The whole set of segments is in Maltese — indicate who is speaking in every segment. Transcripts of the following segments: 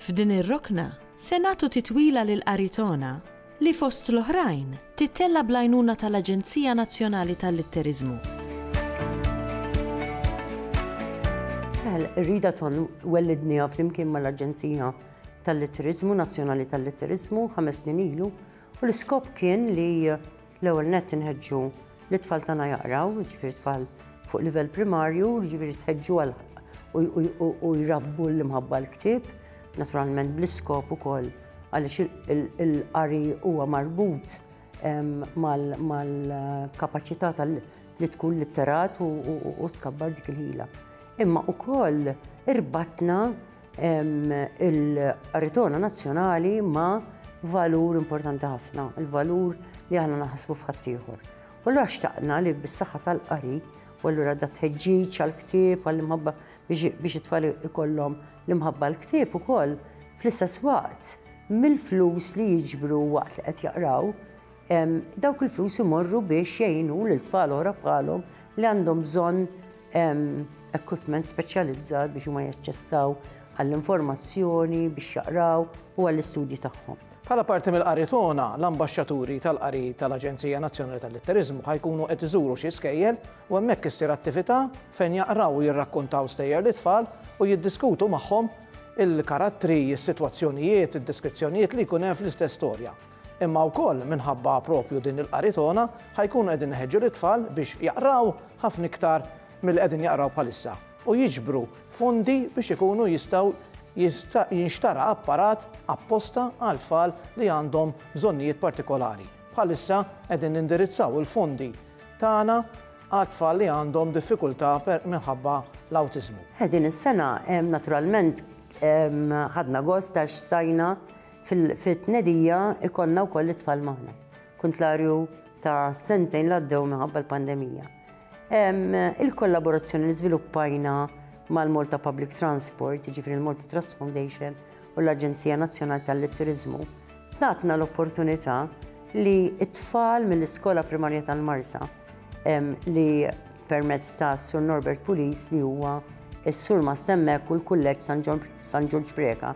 Speaker 1: F'din ir-rokna se nagħtu titwila lil qari togħna li fost l-oħrajn tittella' bl-għajnuna tal-Aġenzija Nazzjonali tal-Litteriżmu.
Speaker 2: Ir-rida ton wellidniha flimkien mal-Aġenzija tal-Litteriżmu Nazzjonali tal-Litteriżmu ħames snin ilu u l-iskop kien li L-ewwel nett inħeġġu lit-tfal tagħna jaqraw, jiġifieri tfal fuq livell primarju, jiġifieri tħeġġu għal u jrabbu l-imħabba l-ktieb, naturalment bl-iskop ukoll għaliex il-qari huwa marbut mal-kapaċità tal li tkun litterat u tkabbar dik il-ħila. Imma ukoll irbatna Il-qaritona nazzjonali ma valur importanti ħafna, il-valur li aħna naħsbu f'ħaddieħor. U l xtaqna li bis-saħħa tal-qari, u allura da tħeġġiġ għal-ktieb, għall-imħabba biex it-tfal ikollhom l-imħabba l-ktieb ukoll, fl-istess waqt, mill-flus li jiġbru waqt li qed jaqraw, Dawk il-flus imorru biex jgħinu lil tfal oħra bħalhom li għandhom bżonn equipment speċjalizzat biex huma jaċċessaw għall-informazzjoni, biex jaqraw u għall-istudji tagħhom. Bħala parti mill-qari
Speaker 3: tona, l-ambaxxaturi tal-qari tal-Aġenzija Nazzjonali tal-Litteriżmu ħajkunu qed iżuru xi skejjel u hemmhekk issir attività fejn jaqraw u jirrakkontaw stejjer lit-tfal u jiddiskutu magħhom il-karattri, is-sitwazzjonijiet, id-deskrizzjonijiet li jkun hemm fl-istess storja. Imma wkoll minħabba proprju din il-qari togħna ħa jkunu qegħdin iħeġġu lit-tfal biex jaqraw ħafna iktar milli qegħdin jaqraw bħalissa u jiġbru fondi biex ikunu jistgħu jinxtara apparat apposta għal tfal li għandhom bżonnijiet partikolari. Bħalissa qegħdin nindirizzaw il-fondi tagħna għat-tfal li għandhom diffikultà minħabba l-awtiżmu. Din is-sena
Speaker 2: naturalment ħadna gost għax sajna Fit-tnedija ikollna wkoll lit-tfal magħna, kuntlarju ta' sentejn li għaddew minħabba l-pandemija. Il-kollaborazzjoni li żviluppajna mal-Malta Public Transport, jiġifieri l-Malta Trust Foundation u l-Aġenzija Nazzjonali tal-Turiżmu, tatna l-opportunità li t-tfal mill-Iskola Primarja tal-Marsa li permezz ta' Sur Norbert Pulis li huwa s-Surmast hemmhekk u l-Kulleġġ San Ġorġ Preca,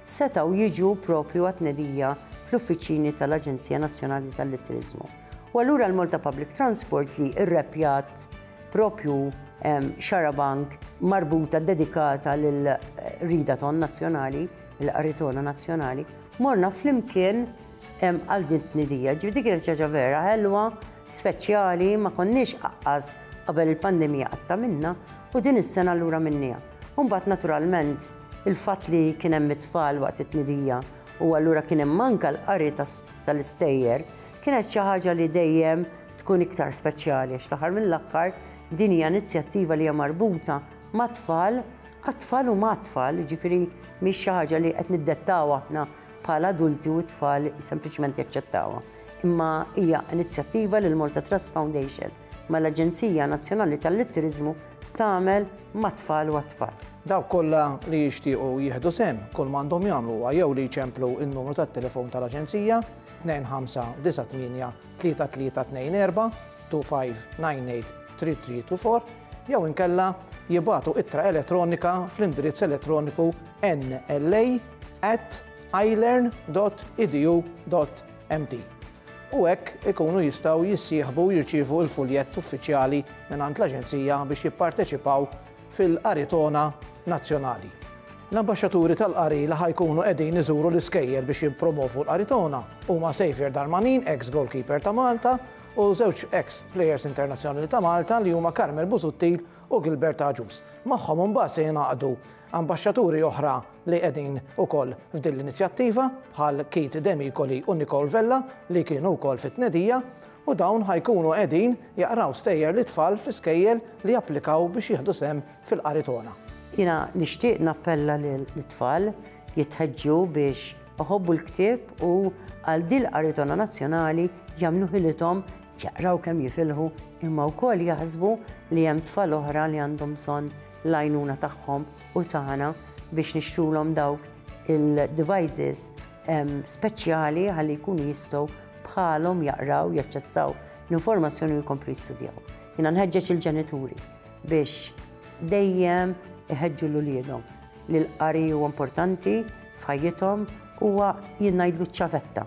Speaker 2: setgħu jiġu proprju għat-tnedija fl-uffiċini tal-Aġenzija Nazzjonali tal-Litteriżmu. U allura l-Malta Public Transport li rreppjat proprju xarabank marbuta dedikata lil rida ton nazzjonali, il-qaritona nazzjonali, morna flimkien għal din tnedija. Ġifieri dik kienet ċaġa vera ħelwa, speċjali, ma konniex aqqas qabel il-pandemija qatta minna u din is-sena allura minnija. U mbagħad naturalment il-fatt li kien hemm it-tfal waqt it-tnidija u allura kien hemm anke l-qari tal-istejjer kienet xi ħaġa li dejjem tkun iktar speċjali għax fl-aħħar mill-aħħar din hija inizjattiva li hija marbuta mat-tfal għat-tfal u mat-tfal, jiġifieri mhix xi ħaġa li qed niddettaw aħna bħala adulti u t-tfal sempliċement jaċċettawha. Imma hija inizjattiva li l-Malta Trust Foundation mal-Aġenzija Nazzjonali tal-Litteriżmu tagħmel mat-tfal u għat-tfal. Dawk kollha
Speaker 3: li jixtiequ jieħdu sehem kull ma għandhom jagħmlu huwa jew li jċemplu n-numru tat-telefon tal-Aġenzija 2598-3324 2598-3324 jew inkella jibatu ittra elettronika fl-indirizz elettroniku nla at ilearn.edu.au. MT, u hekk ikunu jistgħu jissieħbu u jirċievu l-fuljett uffiċjali mingħand l-Aġenzija biex jipparteċipaw fil-Qaritona Nazzjonali. L-Ambaxxaturi tal-Qari li ħa jkunu qegħdin iżuru l-iskejjel biex jippromovu l-Qaritona huma Saviour Darmanin, eks goalkeeper ta' Malta, u żewġ eks plejers internazzjonali ta' Malta li huma Carmel Busuttil u Gilbert Agius. Magħhom imbagħad se jingħaqdu Ambaxxaturi oħra li qegħdin ukoll f'din l-inizjattiva bħal Keith Demicoli u Nicole Vella li kienu wkoll fit-tnedija u dawn ħa jkunu qegħdin jaqraw stejjer lit-tfal fl-iskejjel li japplikaw biex jieħdu sehem fil-Qari Togħna. Jiena
Speaker 2: nixtieq nappella lit-tfal jitħeġġu biex iħobbu l-ktieb u għal din il-Qari Togħna Nazzjonali jagħmlu ħilithom jaqraw kemm jifilħu imma wkoll jaħsbu li hemm tfal oħra li għandhom bżonn l-għajnuna tagħhom u tagħna biex nixtrulhom dawk il-devices speċjali ħalli jkunu jistgħu bħalhom jaqraw, jaċċessaw l-informazzjoni u jkomplu jistudjaw. Jiena nħeġġeġ il-ġenituri biex dejjem iħeġġu l uliedhom li l-qari huwa importanti f'ħajjithom huwa jingħidlu ċavetta